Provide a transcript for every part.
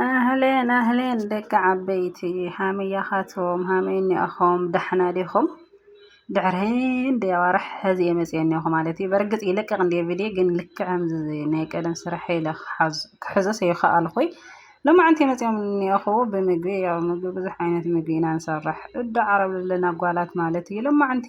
ኣህሌን ኣህሌን ደቂ ዓበይቲ ሃመያኻቶም ሃመይ እኒኣኹም ዳሕና ዲኹም? ድሕሪ ህንደይ ኣዋርሕ ሕዚ እየ መፂኤ እኒኦኹ ማለት እዩ። በርግፅ ይለቅቕ እንድየ ቪድዮ ግን ልክዕ ከምዚ ናይ ቀደም ስርሐ ኢለ ክሕዞ ሰይኸኣልኹይ ሎማዕንቲ እየ መፂኦም እኒኦኹ ብምግቢ ያው ምግቢ ብዙሕ ዓይነት ምግቢ ኢና ንሰርሕ እዳዓረብ ዘለና ጓላት ማለት እዩ ሎማዕንቲ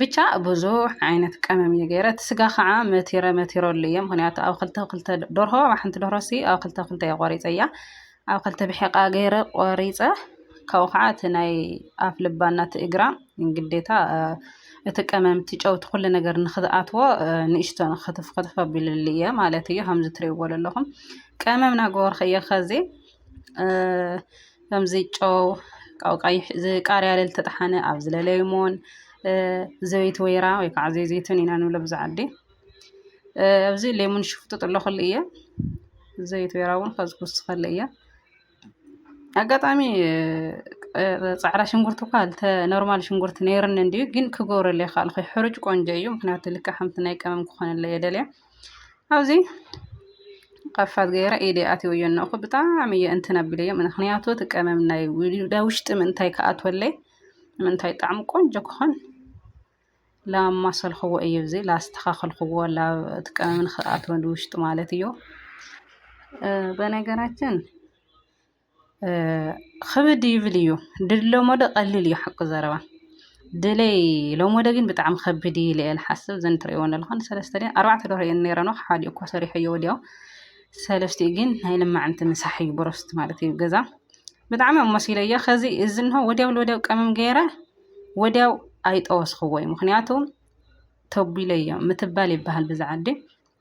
ብቻ ብዙሕ ዓይነት ቀመም እየ ገይረ እቲ ስጋ ከዓ መቲረ መቲረሉ እየ ምክንያቱ ኣብ ክልተ ክልተ ደርሆ ኣብ ሓንቲ ደርሆ ሲ ኣብ ክልተ ክልተ እየ ቆሪፀያ ኣብ ክልተ ብሒቃ ገይረ ቆሪፀ ካብኡ ከዓ እቲ ናይ ኣፍ ልባና እቲ እግራ ግዴታ እቲ ቀመም እቲ ጨውቲ ኩሉ ነገር ንክትኣትዎ ንእሽቶ ክትፍ ክትፍ ኣቢልሉ እየ ማለት እዩ ከምዚ ትሪእዎ ዘለኹም ቀመም ናገበርኩ እየ ከዚ ከምዚ ጨው ካብ ቀይሕ ቃርያ ዝተጠሓነ ኣብ ዝለለዩ ሞን ዘቤት ወይራ ወይ ከዓ ዘይ ዘይትን ኢና ንብሎ ብዛ ዓዲ ኣብዚ ሌሙን ሽፍጥጥ ኣለኹሉ እየ ዘቤት ወይራ እውን ከዚ ክውስኸሉ እየ ኣጋጣሚ ፃዕራ ሽንጉርቲ እኳ ልተ ኖርማል ሽንጉርቲ ነይርኒ እንድዩ ግን ክገብረለይ ካልኹ ሕሩጭ ቆንጆ እዩ ምክንያቱ ልክዕ ከምቲ ናይ ቀመም ክኾነለይ እየ ደልየ ኣብዚ ቐፋል ገይረ ኢደ ኣትየዮ እነኹ ብጣዕሚ እየ እንትን ኣቢለዮ ምኽንያቱ እቲ ቀመም ናይ ውሽጢ ምእንታይ ክኣትወለይ ምእንታይ ጣዕሙ ቆንጆ ክኾን ላማሰልክዎ እየ እዚ ላስተኻኸልክዎ እቲ ቀመም ንኽኣትወ ውሽጢ ማለት እዩ። በነገራችን ኽብድ ይብል እዩ ድል ሎሞዶ ቀሊል እዩ ሓቂ ዘረባ ድለይ ሎሞደ ግን ብጣዕሚ ኸብድ እዩ ኢለ እየ ዝሓስብ እዘን እትሪእዎ ዘለኹን ሰለስተ ድየን ኣርባዕተ ደርሆ እየን ነይረን ሓዲኡ እኳ ሰሪሐዮ ወዲኦ ሰለስቲኡ ግን ናይ ልማዕንቲ ምሳሕ እዩ ብሮስት ማለት እዩ ገዛ ብጣዕሚ እዮም መሲለዮ ኸዚ እዚ እንሆ ወዲያው ወዲያው ቀመም ገይረ ወዲያው ኣይጠወስኽዎይ ምክንያቱ ተቢለዮ ምትባል ይበሃል ብዛ ዓዲ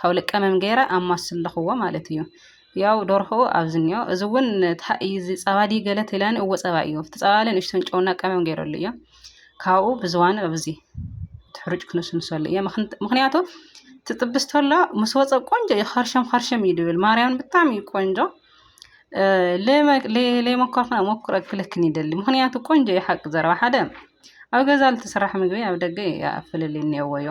ካብ ልቀምም ገይረ ኣማስለኹዎ ማለት እዩ። ያው ዶርሆኡ ኣብዚ እኒኦ እዚ እውን እንታይ እዩ እዚ ጸባ ድዩ ገለ ትብለኒ እወ ጸባ እዩ ኣብቲ ጸባ በለ ንእሽቶን ጨውና ቀመም ገይረሉ እዮ ካብኡ ብዝዋኑ ኣብዚ እቲ ሕሩጭ ክንስንሰሉ እዮ ምክንያቱ ትጥብስ ተሎ ምስ ወፀ ቆንጆ እዩ ኸርሸም ኸርሸም እዩ ድብል ማርያምን ብጣዕሚ እዩ ቆንጆ ለይመኮርክና ሞክረ ክልክን ይደሊ ምክንያቱ ቆንጆ እዩ ሓቂ ዘረባ ሓደ ኣብ ገዛ ልትስራሕ ምግቢ ኣብ ደገ ፍልልይ እኒኦዎ እዮ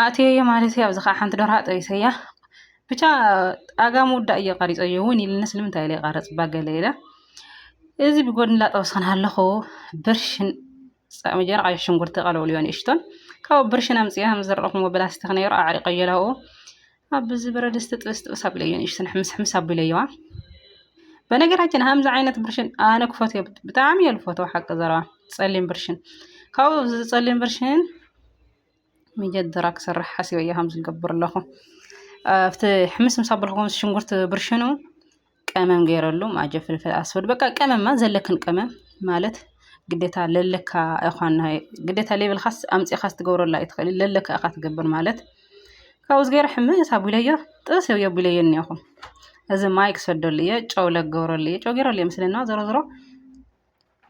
ኣእትየዮ ማለት እዩ። ኣብዚ ከዓ ሓንቲ ደርሆ ጠቢሰያ ብቻ ኣጋ ምውዳእ እየ ቀሪፀዮ እውን ኢሉኒ ስለምንታይ ኢለ ይቀርፅባ ገለ ኢለ እዚ ብጎድኒ እንዳጠበስኩ እናሃለኹ ብርሽን መጀመርያ ቀይሕ ሽጉርቲ ቀለውልዎ ንእሽቶን ካብኡ ብርሽን ኣምፂኣ ምስ ዘርኣኹምዎ ብላስቲክ ነይሩ ኣዕሪቀዮ ኣብኡ ኣብ እዚ ብረድስቲ ጥብስ ጥብስ ኣቢለዮ ንእሽቶ ሕምስ ሕምስ ኣቢለዮዋ በነገራችን ከምዚ ዓይነት ብርሽን ኣነ ክፈትዮ ብጣዕሚ እየ ዝፈትዎ ሓቂ ዘረባ ፀሊም ብርሽን ካብኡ እዚ ፀሊም ብርሽን መጀደራ ክሰርሕ ሓሲበዮ ከምዚ ዝገብር ኣለኹ ኣብቲ ሕምስ ምስ ኣበልኩ ሽንጉርቲ ብርሽኑ ቀመም ገይረሉ ማጀ ፍልፍል ኣስወድ በቃ ቀመማ ዘለክን ቀመም ማለት ግዴታ ለለካ እኳን ግዴታ ሌብልካስ ኣምፂኻ ትገብረላ ኣይትኽእል ለለካ እኻ ትገብር ማለት ካብኡ ዝገይረ ሕምስ ኣቢለዮ ጥብስ እዮ ኣቢለዮ እኒኹ እዚ ማይ ክሰደሉ እየ ጨው ለገብረሉ እየ ጨው ገይረሉ እየ ምስለና ዞሮ ዞሮ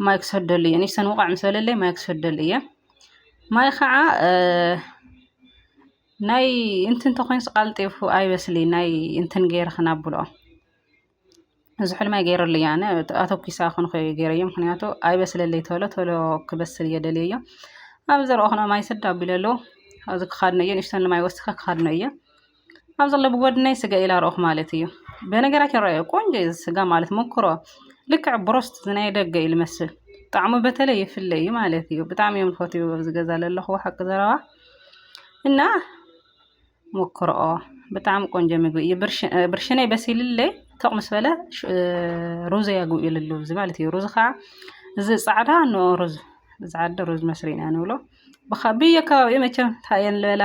ማይ ክሰደሉ እየ ንሰን ውቓዕ ምስ በለለይ ማይ ክሰደሉ እየ ማይ ከዓ ናይ እንትን ተኮይንስ ቃልጢፉ ኣይበስሊ ናይ እንትን ገይረ ክናብሎ ዝሑል ማይ ገይረሉ እየ ኣነ ኣተኪሳ ክንኮ ገይረዮ ምክንያቱ ኣይበስለለይ ተሎ ተሎ ክበስል እየ ደልየዮ ኣብ ዘረኦ ክነ ማይ ስድ ኣቢለሉ ኣብዚ ክካድነ እየ ንእሽተን ማይ ወስከ ክካድነ እየ ኣብዚ ኣሎ ብጎድነይ ስጋ ኢላ ረእኩ ማለት እዩ በነገራችን ረእየ ቆንጆ እዩ ስጋ ማለት ሞክሮ ልክዕ ብሮስት ናይ ደገ እዩ ልመስል ጣዕሙ በተለይ ይፍለ እዩ ማለት እዩ ብጣዕሚ እዮም ዝፈትዩ ኣብዚ ገዛ ዘለኹ ሓቂ ዘረባ እና ሞክሮኦ ብጣዕሚ ቆንጆ ምግቢ እዩ ብርሽነይ በሲልለይ ተቕ ምስ በለ ሩዘ ያግብ ይልሉ እዚ ማለት እዩ ሩዝ ከዓ እዚ ፃዕዳ ንኦ ሩዝ ፃዕዳ ሩዝ መስሪና ንብሎ ብየከባቢኡ መቸም ታየን ልበላ